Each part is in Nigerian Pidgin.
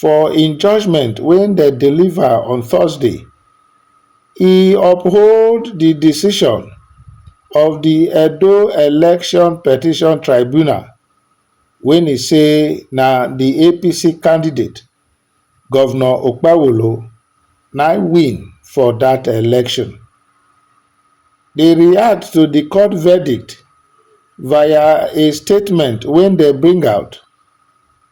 for im judgement wey dem deliver on thursday e uphold di decision of di edo election petition tribunal wey e say na di apc candidate govnor okpewolo na im win for dat election dey react to di court verdict via a statement wey dem bring out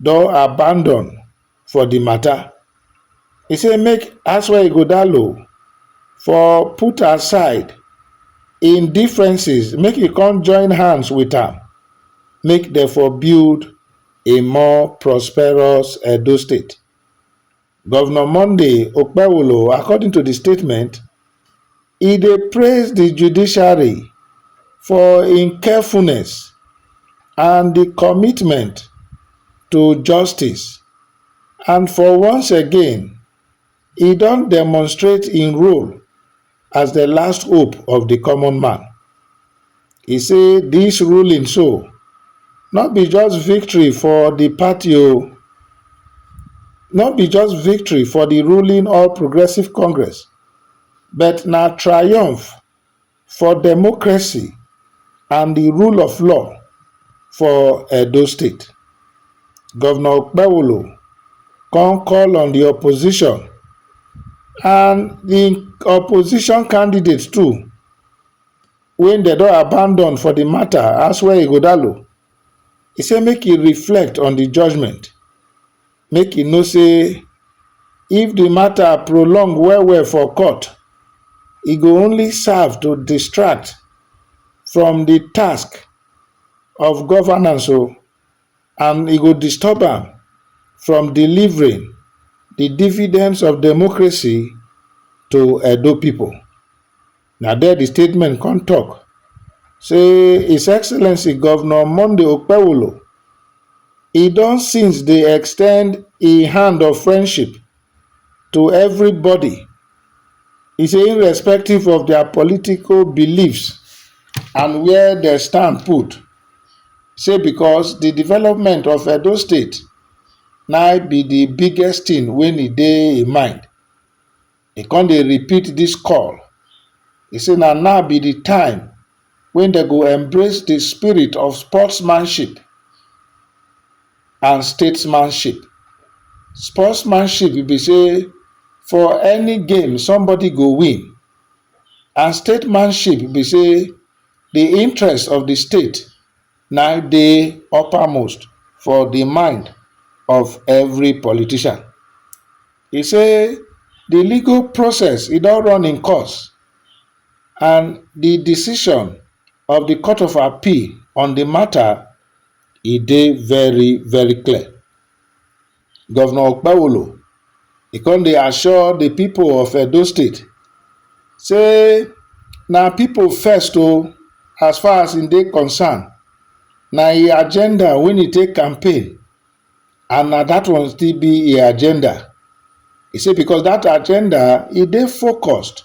don abandon for di mata. E say make Asua Ighodalo for put aside im differences make e come join hands wit am make dem for build a more prosperous Edo State. Govnor Monday Okpewolo according to di statement, e dey praise di judiciary for im carefulness and di commitment to justice and for once again e don demonstrate im role, as di last hope of di common man. E say dis ruling so no be just victory for di party o, no be just victory for di ruling All Progressives Congress but na triumph for democracy. and the rule of law for Edo State. Governor Okpewolo come call on the opposition and the opposition candidates too when they don abandon for the matter as well Igodalo. He say make he reflect on the judgment make e know say if di mata prolong well well for court, e go only serve to distract from di task of governance o and e go disturb am from delivering di dividends of democracy to Edo pipo. Na there di statement come tok say His Excellency Governor Monday Okpewolo e don since dey extend e hand of friendship to everybody, e say irrespective of dia political beliefs and where dem stand put, say because di development of Edo State na be di biggest tin wey e dey e mind. He come dey repeat dis call, he say na now be di time wey dem go embrace di spirit of sportsmanship and statesmanship. Sportsmanship be say for any game somebody go win and statemanship be say di interest of di state, na im dey upper most for di mind of every politician. E say di legal process e don run im course and di decision of di court of appeal on di mata e dey very very clear. Governor Okpewolo, he come dey assure the people of Edo State say na people first o as far as he dey concern, na he agenda wey he take campaign and na that one still be he agenda. He say because that agenda he dey focused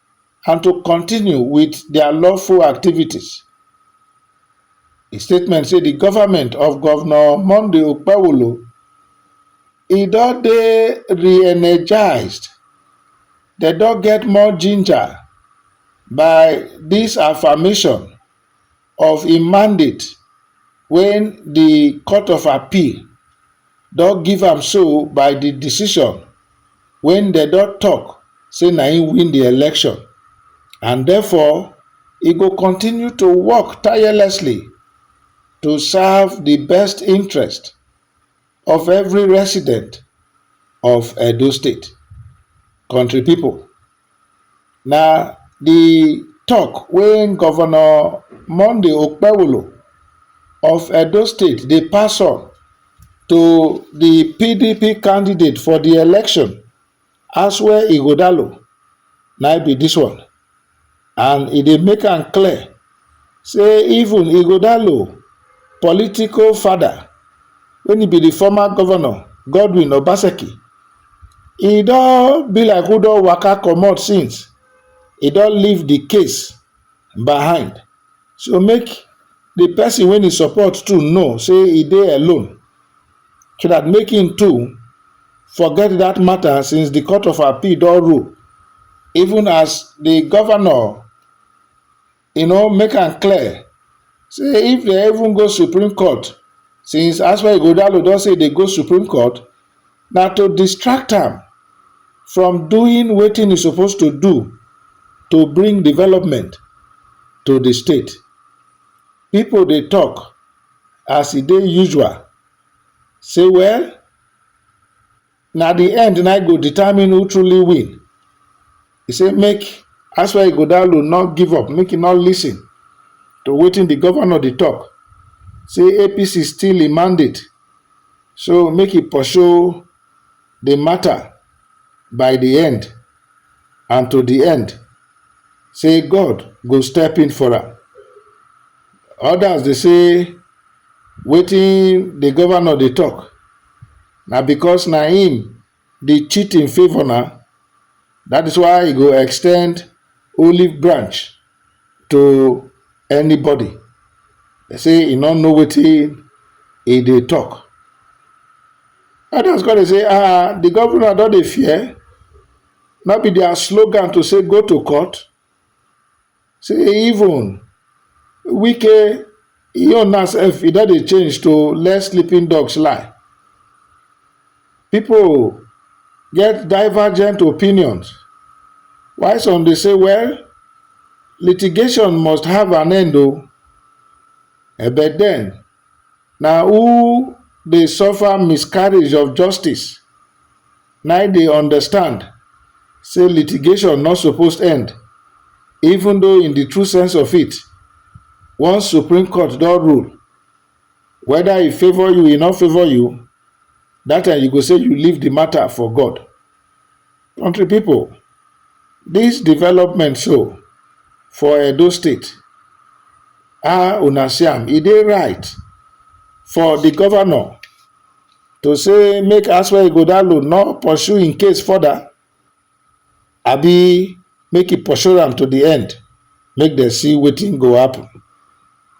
and to continue wit dia lawful activities. Di statement say di government of Governor Monday Okpewolo e don dey re-energized, dem don get more ginger by dis affirmation of im mandate wey di court of appeal don give am so by di decision wey dem don tok say na im win di election and therefore e go continue to work tirelessly to serve di best interest of every resident of Edo State. Country people, na the talk when Governor Monday Okpewolo of Edo State dey pass on to the PDP candidate for the election Asue Ighodalo na im be dis one and e dey make am clear say even Ighodalo political father when e be the former governor Godwin Obaseki, e don be like who don waka comot since, e don leave the case behind so make the person wey e support too know say e dey alone. so dat make im too forget dat mata since di court of appeal don rule even as di govnor you know make am clear say if dem even go supreme court since aswa ighodalo don say e dey go supreme court na to distract am from doing wetin e suppose to do to bring development to di state. Pipo dey tok as e dey usual say well na di end na im go determine who truly win. E say make Asuwa Ighodalo no give up, make e no listen to wetin di govnor dey tok, say APC steal im mandate so make e pursue di mata by di end. and to di end sey God go step in for am. Odas dey sey wetin di governor dey tok na because na im dey cheat in favour na dat is why e go extend olive branch to anybody They say he no know wetin he dey talk others come dey say ah the governor don dey fear no be their slogan to say go to court say even wike E own now sef e don dey change to let sleeping dogs lie. Pipu get divergent opinions while some dey say well litigation must have an end oo but den na who dey suffer miscarriage of justice na im dey understand say litigation no suppose end even though in the true sense of it once supreme court don rule whether e favour you e no favour you that time you go say you leave the matter for God country people this development so for Edo state ah una see am e dey right for the governor to say make Aswell Igodalo not pursue in case further abi make e pursue am to the end make dem see wetin go happen.